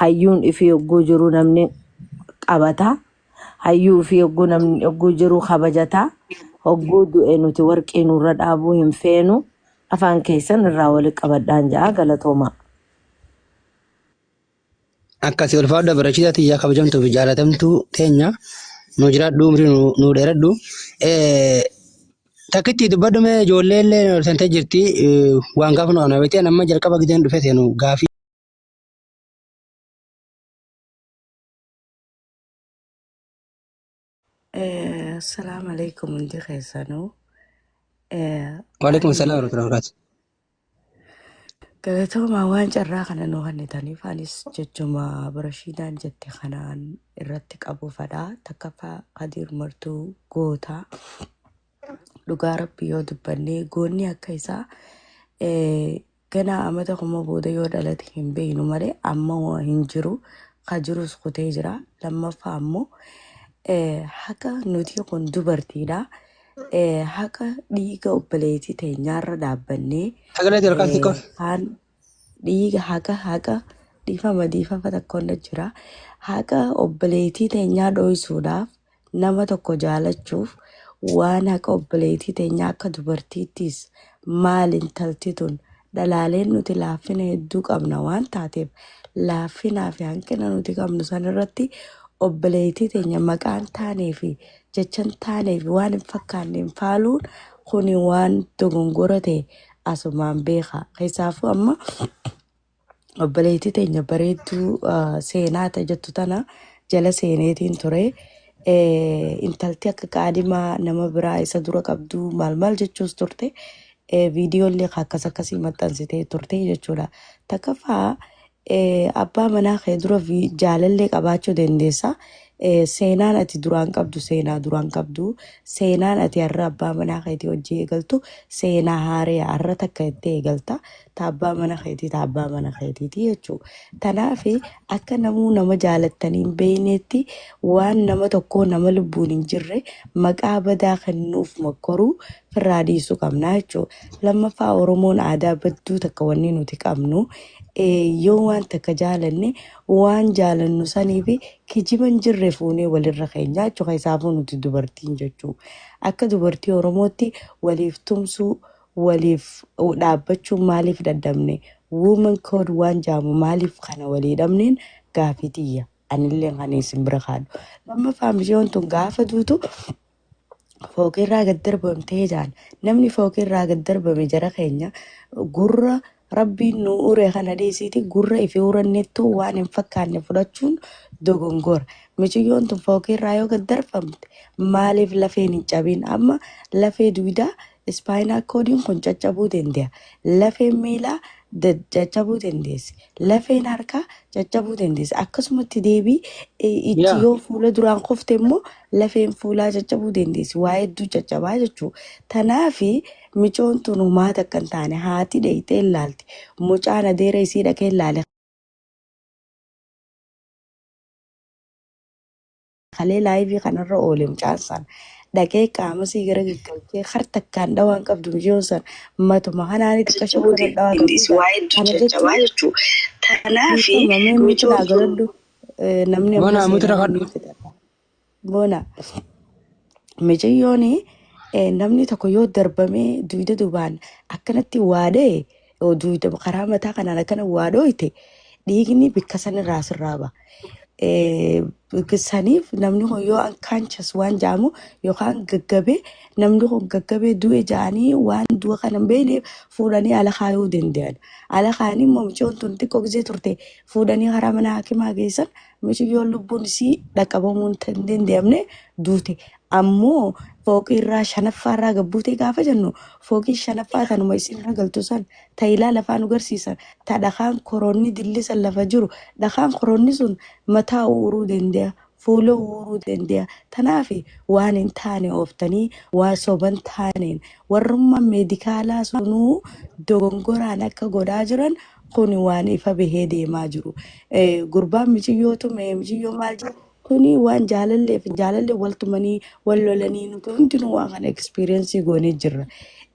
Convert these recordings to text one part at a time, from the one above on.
hayyuun ifii yogguu jiru namni qabata hayyuu ifii yogguu namni yogguu jiru kabajata hogguu du'e nuti warqii nurra dhaabuu hin feenu afaan keessan irraa wali qabadhaan ja'a galatoomaa. Akkasii ulfaadha bareechisaa tiyyaa kabajamtuu fi jaalatamtuu teenya nu jiraadhu umrii nu- nu dheeradhu. Eh, Takkitti dubbadhu mee ijoollee illee nu sentee jirti eh, waan gaafa nu ana beekteen amma jalqaba gideen dhufe seenu gaafii. Assalamu alaikum hundi keessanuu. Waalaikum salaam warahmatullahi wabarakatuh. Galatoomaa waan carraa kana nu kennitaniif anis jechuma Rashiidaan jette kanaan irratti qabu fedha. Takkaffaa Kadiir Martuu goota. Dhugaa Rabbii yoo dubbannee goonni akka isaa eh, Ganaa amata kuma booda yoo dhalate hin beeknu malee amma hin jiru ka jirus kutee jira lammaffaa ammoo haqa nuti kun dubartiidha haqa dhiiga obboleettii teenyaarra dhaabbannee haan dhiiga haqa haqa dhiifama dhiifama takkoon jira haqa obboleettii teenyaa dhooysuudhaaf nama tokko jaalachuuf waan haqa obboleettii teenyaa akka dubartiittiis maal intalti tun dhalaaleen nuti laaffina hedduu qabna waan taateef laaffinaa fi hanqina nuti qabnu san irratti obboleettii teenya maqaan taanee fi jechan taanee fi waan hin fakkaanneen faaluun kuni waan dogongora ta'e asumaan beeka. Keessaafuu amma obboleettii teenya bareedduu ah, seenaa ta jettu tana jala seeneetiin ture. Eh, Intalti akka qaadimaa nama biraa isa dura qabdu maal maal jechuus turte. Eh, Viidiyoollee akkas akkasii maxxansitee turte jechuudha. Takkaffaa eh, abbaa manaa kee dura vi- jaalallee qabaachuu dandeessa. Eh, Seenaan ati duraan qabdu seenaa duraan qabdu seenaan ati har'a abbaa manaa keetii hojii eegaltu seenaa haaree har'a takka itti eegalta. ta abbaa mana keetii ta abbaa mana keetiiti jechuu tanaaf akka namuu nama jaalattanii hin beeyneetti waan nama tokkoo nama lubbuun hin jirre maqaa badaa kennuuf mokkoruu firraa dhiisuu qabnaa jechuu lammaffaa oromoon aadaa badduu takka wanni nuti qabnu eh, yoo waan takka jaalanne waan jaalannu saniif kijiba hin jirre fuunee walirra keenya jechuu keessaafuu nuti dubartiin jechuu akka dubartii oromootti waliif tumsuu waliif dhaabbachuu maaliif dadhabne woman code waan jaamu maaliif kana walii dhabneen gaafii tiyya anillee kan isin bira kaadhu lammaffaa mishoon tun gaafa duutu fooqirraa gad darbamtee jaan namni fooqirraa gad darbame jara keenya gurra Rabbiin nu uure kana dhiisiiti gurra ifi urannettuu waan hin fakkaanne fudhachuun dogongora. Miciyyoon tun fookiirraa yoo gad darfamte maaliif lafeen hin cabin? Amma lafee duydaa ispaayiinaa koodiin kun caccabuu danda'a. Lafeen miilaa caccabuu dandeessi. Lafeen harkaa caccabuu dandeessi. Akkasumatti deebii itti Yaa. yoo fuula duraan kufte immoo lafeen fuulaa caccabuu dandeessi. Waa hedduu caccabaa jechuudha. Tanaafi Micoon tun homaa takka hin taane haati dheeyxee hin laalte mucaan adeera isii dhaqee hin laale kalee laayivii kanarra oole mucaan san dhaqee qaama sii gara gaggalchee har takkaan dhawaan qabdu micoon san matuma kanaani xiqqashoo kana dhawaa qabdu Innis ta'a. waa'ee Kana jechuun jajjabaa jechuudha. Tanaafi dhiifama mee micoon mitirraa sun galadhu namni Mana ammas mitirra seeraan kadhu. miitirra. goona. Micayyoon eh, namni tokko yoo darbamee duyda dubaan akkanatti waa dha'e yoo duyda karaa mataa kanaan akkana waa dhooyte dhiigni bakka sanirraa sirraa ba'a. Eh, bakka Saniif namni kun yoo unconscious waan jaamu yookaan gaggabee namni kun gaggabee du'e jaanii waan du'a kana hin beekneef fuudhanii ala kaayuu danda'an. Ala kaanii immoo mucoon tun xiqqoo gisee turte fuudhanii karaa mana hakimaa geessan Miciyyoon lubbuun isii dhaqqabamuu hin tan- danda'amne duute. Ammoo fooqii irraa shanaffaa irraa gad buute gaafa jennu fooqii shanaffaa tanuma isin irra galtu san tayilaa lafaa nu garsiisan ta dhakaan koroonni dilli san lafa jiru dhakaan koroonni sun mataa uuruu danda'a fuula uuruu danda'a tanaaf waan hin taane ooftanii waan soban taaneen warrummaan meedikaalaa sunuu dogongoraan akka godhaa jiran Kuni waan ifa bahee deemaa jiru. Eh, Gurbaan miciyyoo tume, miciyyoo maal jedhe. Kuni waan jaalalleef, jaalallee wal tumanii, wal lolanii nuti hundinuu waan kana experience goonee jirra.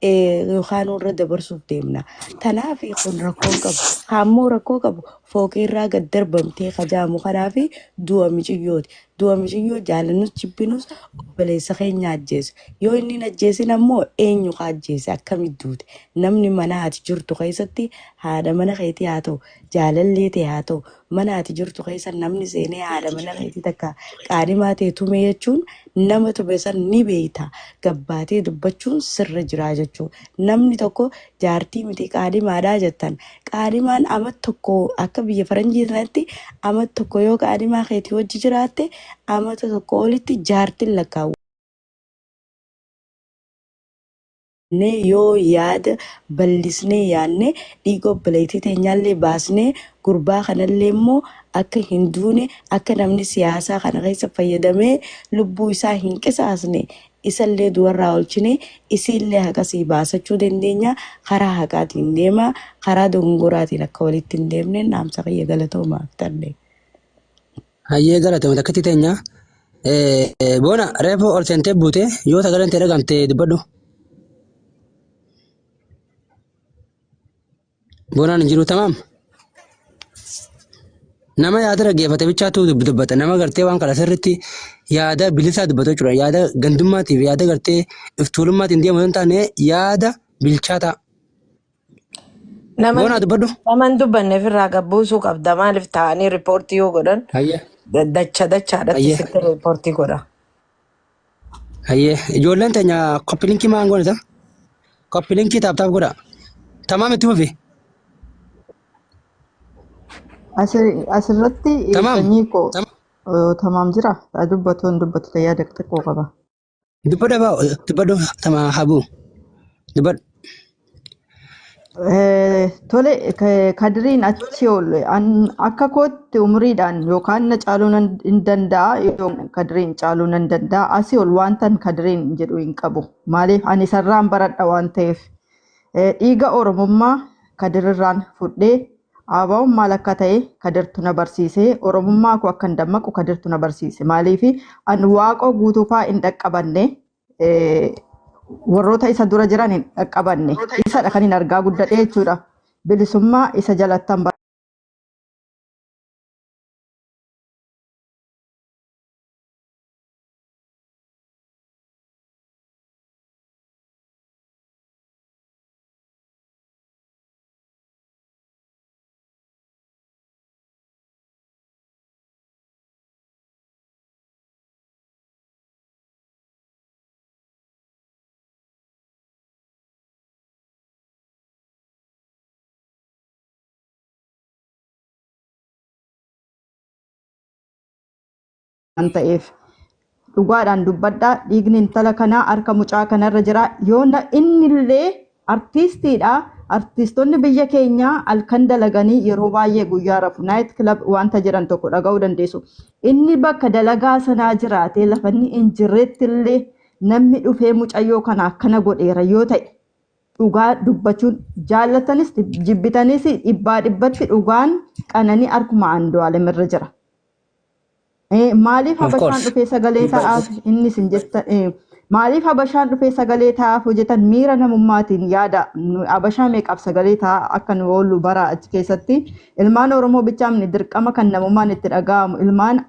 Eh, Yookaan irra dabarsuuf deemna. Tanaaf kun rakkoo hin qabu. Kaammoo rakkoo qabu fooqii irraa gad darbamtee kajaamu kanaa fi du'a miciyyooti. Du'a miciyyoo jaalannus jibbinus obboleessa keenya haa ajjeesu. Yoo inni hin ajjeesin ammoo eenyu ka ajjeese? Akkamitti duute? Namni mana ati jirtu keessatti haadha mana keetii haa ta'u, jaalallee tee haa ta'u, mana ati jirtu keessa namni seenee haadha mana keetii takka qaadhimaa tee tume jechuun nama tume san ni beeyta gabbaatee dubbachuun sirra jira jechuu. Namni tokko jaartii miti qaadimaadha jettan. Qaadimaan amat tokko akka biyya faranjii sanatti amat tokko yoo qaadimaa keetii wajji jiraatte amata tokko olitti jaartin lakkaawwa. jennee yoo yaada ballisnee yaanne dhiiga obboleettii teenyaallee baasnee gurbaa kanallee immoo akka hin duune akka namni siyaasaa kana keessa fayyadamee lubbuu isaa hin qisaasne Isallee du'arraa oolchinee isiillee haqasii baasachuu dandeenya. Karaa haqaatiin deemaa. Karaa dogongoraatiin akka walitti hin deemneen dhaamsa kiyya galatoomaa aktarlee. Hayyee galatoomi takkitti teenya. Eh, Boona reefu ol seentee buute yoo sagaleen tee dhagamte dubbadhu. Boonaan hin jiru tamaam. Nama yaada dhaggeeffate bichaatu dubbata. Nama gartee waan kana sirriitti yaada bilisaa dubbatu jechuudha. Yaada gandummaatiif yaada gartee iftuulummaatti hin deemu yoo hin taane yaada bilchaataa. Nama Boonaa dubbadhu. nama hin dubbanne ofirraa gabbuusuu qabda maaliif taa'anii riippoortii yoo godhan Hayya. dacha dachaadhatti Hayya. sitti riippoortii godha. Hayyee ijoolleen teenya koppilinkii maan goonita? Koppilinkii taaptaap godhaa. Tamaam itti fufi. Asi- Asirratti eh, Tamaam. sanyii koo Tamaam. eh, tamaam jira. Haa dubbatu hin dubbatu ta'ee yaada xiqqoo qaba. Dubbadha baa dubbadhu tama habuu. Dubbadhu. Eh, Tole, ka- kadiriin achi ol an akka kootti umriidhaan yookaan na caaluu nan hin danda'a yookaan kadiriin caaluu nan danda'a asii ol wantan kadiriin jedhu hin qabu maaliif ani isarraan baradha waan ta'eef Eh, dhiiga oromummaa kadirirraan fudhee aabaa'uun maal akka ta'e kadirtu na barsiise oromummaa koo akkan dammaqu kadirtu na barsiise maaliif an waaqoo guutuufaa hin dhaqqabanne eh, warroota isa dura jiran hin dhaqqabanne isadha kan hin argaa guddadhe jechuudha bilisummaa isa jalattan bara waan ta'eef dhugaadhaan dubbadhaa dhiigni intala kanaa harka mucaa kanarra jira yoo na innillee Artiistiidha. Artiistonni biyya keenyaa halkan dalaganii yeroo baay'ee guyyaa rafu. Naayit kilab wanta jedhan tokko dhaga'uu dandeessu. Inni bakka dalagaa sanaa jiraatee lafa inni hin jirretti illee namni dhufee mucayyoo kana akkana godheera yoo ta'e dhugaa dubbachuun jaallatanis jibbitanis dhibbaa dhibbatti dhugaan qananii harkuma Andu'aalem irra jira. Eh, maaliif Of habashaan course. dhufee sagalee Dhibba- ta'aaf inni isin jettan eh, maaliif habashaan dhufee sagalee ta'aaf hojjetan miira namummaatiin yaada nu- habashaa meeqaaf sagalee ta'aa akka nu oollu bara achi keessatti ilmaan oromoo bichaa miti dirqama kan namummaan itti dhaga'amu ilmaan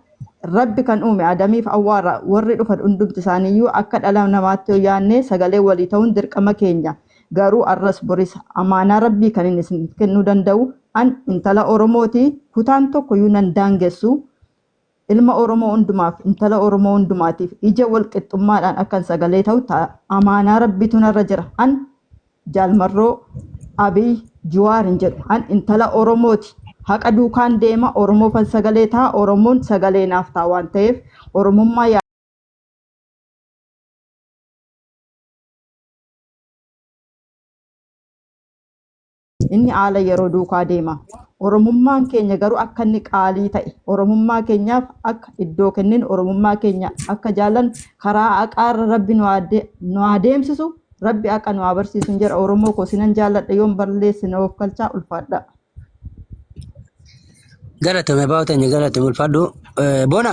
rabbi kan uume adamiif awwaara warri dhufan hundumti isaaniiyyuu akka dhala namaatti yoo yaadne sagalee walii ta'uun dirqama keenya Garuu arras boris amaanaa Rabbii kanin isiniif kennuu danda'u an intala Oromooti kutaan tokkoyyuu nan daangessu ilma Oromoo hundumaaf intala Oromoo hundumaatiif ija wal qixxummaadhaan akkan sagalee ta'u ta amaanaa Rabbiitu narra jira an Jaal Marroo Abiy Juwaar hin jedhu an intala Oromooti haqa duukaan deema Oromoofan sagalee ta'a Oromoon sagalee naaf ta'a waan ta'eef Oromummaa Inni haala yeroo duukaa deema. Oromummaan keenya garuu akka inni qaalii ta'e, Oromummaa keenyaaf akka iddoo kenninu, Oromummaa keenya akka jaallannu, karaa haqaarra Rabbi nu haa de- nu haa deemsisu, Rabbi haqa nu haa barsiisu hin jedha. Oromoo koo sinan jaalladha yoon balleesse na oofkalchaa ulfaadhaa. Galatoomi abbaa keenya galatoomi ulfaadhu. Eh, Bona